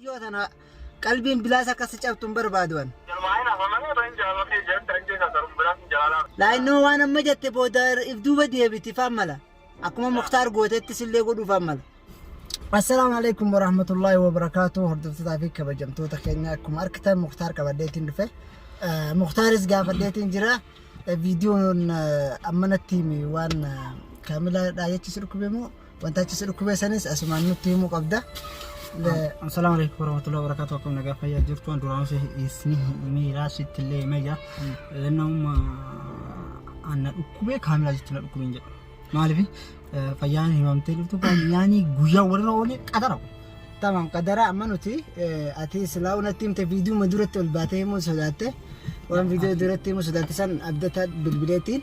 Yoo tana qalbiin bilaas akka si cabtu hin barbaadu an. Jalmaahin hafa malee otoo hin jaalala kee jette ajjee kan sarun biraa sin jalaalaa. Laayinnoo waan amma jette booda if duuba deebiti faan mala. Akkuma Muktaar gootetti sillee godhuu faan mala. Assalaamu alaikum warahmatullaahi wabarakaatu hordoftotaa fi kabajamtoota keenya akkuma argitan Muktaar qabadheetiin dhufe. Muktaaris gaafadheetiin jira. Viidiyoon ammanatti waan kaamilaadhaa jechi si dhukkube moo Wanta achi si dhukkubee sanis asumaan nutti himuu qabda. Le- Assalamu alaikum warahmatullahi wabarakatuh. Akkam nagaa fayyaa jirtu an duraan si isni miiraa sitti illee himee jira. Lannamuma anna dhukkubee kaamilaa jechuun na dhukkubeen jedhu. Maaliif fayyaan himamtee jirtu fayyaanii guyyaa walirra oolee qadara. Tamam qadara amma nuti eh, ati silaa unatti himte viidiyuma duratti ol baatee himuu sodaatte waan viidiyoo duratti himuu sodaatte san abdata bilbileetiin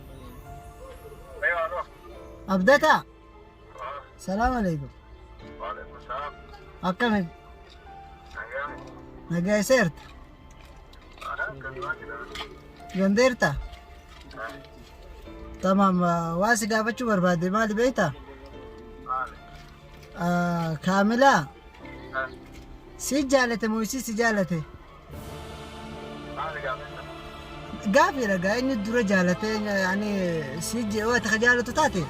Abdataa. Salaam alaikum. Akkami? Nagaayiseerta. Gandeerta. Tamam waa si gaafachuu barbaade maali beekta? Kaamilaa. Si jaalate moo isii si jaalate? Gaafiidha gaa inni dura jaalatee ani si jeewaa takka jaalatu taate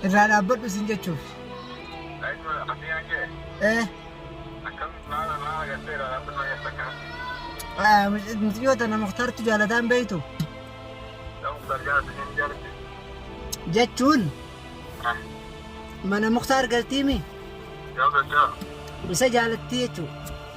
irraa dhaabbadhu sin jechuuf. Eh, ah, mucayyoo tana muktaartu jaalataan beeytu jechuun mana muktaar galtiimi isa jaalattii jechuudha.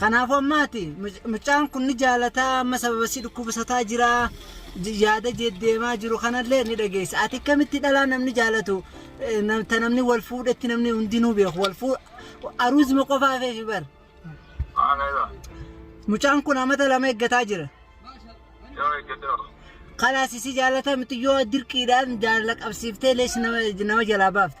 Kanaafuu amma ati muc- mucaan kun ni jaalataa amma sababa si dhukkubisataa jira j- yaada jeddeemaa jiru kanallee ni dhageessa. Ati akkamitti dhalaa namni jaalatu eh, nam- ta namni wal fuudhetti namni hundinuu beeku wal fuu aruuzima qofaa feefi bar. Haala irra. Mucaan kun amata lama eeggataa jira. Yoo eeggatoo. Kalaas si jaalata miti yoo dirqiidhaan jaalala qabsiiftee lees nama nama jalaa baafta.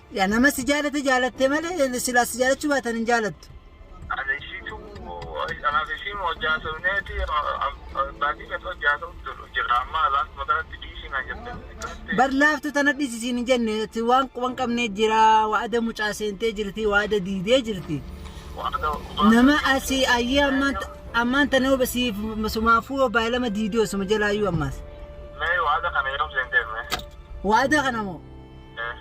Yaa nama si jaalate jaalatte malee silaa si jaalachuu baatan hin jaalattu. Ani ishiitu anaaf ishiin hojjaa sobneeti baatii meeqa hojjaa sobtu jira amma laaf makanatti dhiisii naan jette akkamitti Bar laaftu tana dhisi siin hin jenne ati waan quban qabnee jira waada mucaa seentee jirti waada diidee jirti. waada Nama asii ayyee ammaan ammaan tana huba siif sumaafuu baay'ilama diidee osuma jalaayyuu ammaas. mee waada kana yeroo seentee mee Waada kana moo?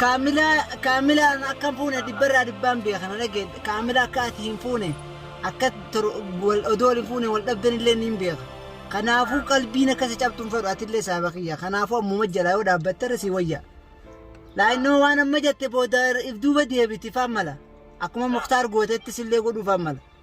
Kaamilaa kaamilaa an akka fuune dhibbarraa dhibbaan beeka na dhaggeedha kaamilaa akka ati hin fuune akka odoo wal hin fuune wal dhabdan illee niin beeka kanaafuu qalbiin akka si cabtu hin fedhu ati illee saaba kiyya kanaafuu ammuma jalaa yoo dhaabbatte irra si wayya laayinnoo waan amma jette booda if duuba deebiti faan mala akkuma muktaar gootettis illee godhuu faan mala.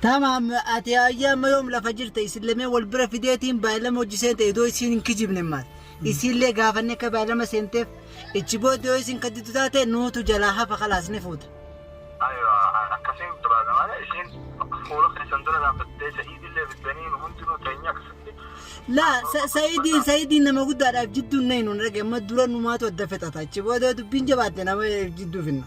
Tamam ati ayii amma yoom lafa jirta isin lameen wal bira fideetiin baay'ilama hojji seenta idoo isiin hin kijibne maal isiin lee gaafanne akka baay'ilama seenteef ichi booda yoo isin kadditu taate nuutu jalaa hafa kalaas ni fuuta. Aywa akkasiin barbaada malee isiin fuula keessan dura dhaabbattee sa'iid illee fiddanii nu hundinuu teenyee akkasitti Laa sa- sa'iidiin sa'iidiin nama guddaadhaaf jidduun na hin hundhage amma dura numaatu adda fixata ichi booda yoo dubbiin jabaatte nama jidduu finna.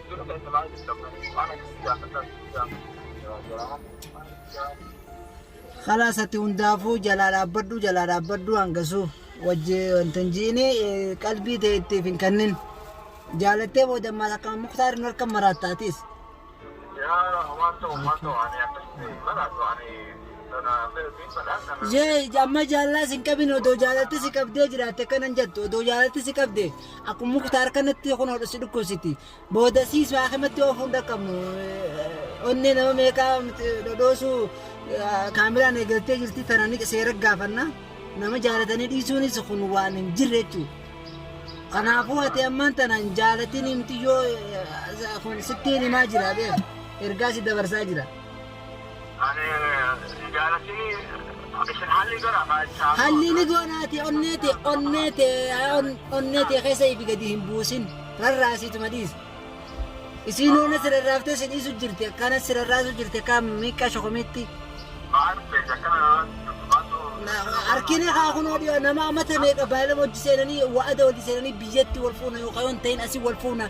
Kalaas ati hundaafuu jalaa dhaabbadhu jalaa dhaabbadhu hangasuu wajji wanta hin jiini qalbii ta'e ittiif hin kennin. Jaalattee booda ammaas akka muktaar hin harka maraatta atis. Jee amma jaalala sin qabin odoo jaalatti si qabdee jiraatte kanan jettu odoo jaalatti si qabdee. Akkuma muktaar kanatti kun hodhu si dhukkubsiti. Boodasiis haakimatti oofuun dhaqqabnu. Onnee nama meeqaa dhodhoosuu kaameraan eegaltee jirti tana ni seera gaafanna. Nama jaalatanii dhiisuunis kun waan hin jirre jechuudha. Kanaafuu ati ammaan tana hin jaalatiin himti yoo kun sittiin himaa jira beeku. Ergaa si dabarsaa jira. Hallii ni goonaati onnee tee onnee tee onnee tee keessa ifi gadi hin buusin rarraasiituma dhiisi. Isiin hoona si rarraaftee si dhiisu jirti akkana si rarraasu jirti akka miiqqa shokomiitti. Harkina kaa kun odiyoo nama amata meeqa baay'ee hojii seenanii wa'ada hojii seenanii biyyatti wal fuuna yookaan yoo hin ta'in asii wal fuuna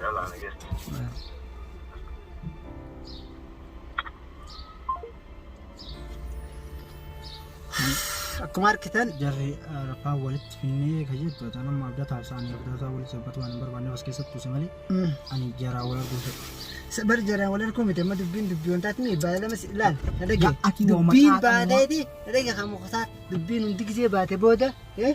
Yalla, nagee. Akkuma argitan jarri rafaa walitti finnee kan jettu ta'an amma abdataa isaanii abdataa walitti sabbatu waan hin barbaanne as keessatti uuse malee ani jaraa wal arguu fedha. Bar jaraan wal arguu miti amma dubbiin dubbii wantaati mi baay'ee lama si ilaal na dhage Ati dubbiin waamataa baatee ti na dhage kan mukataa dubbiin hundi gisee baate booda eh,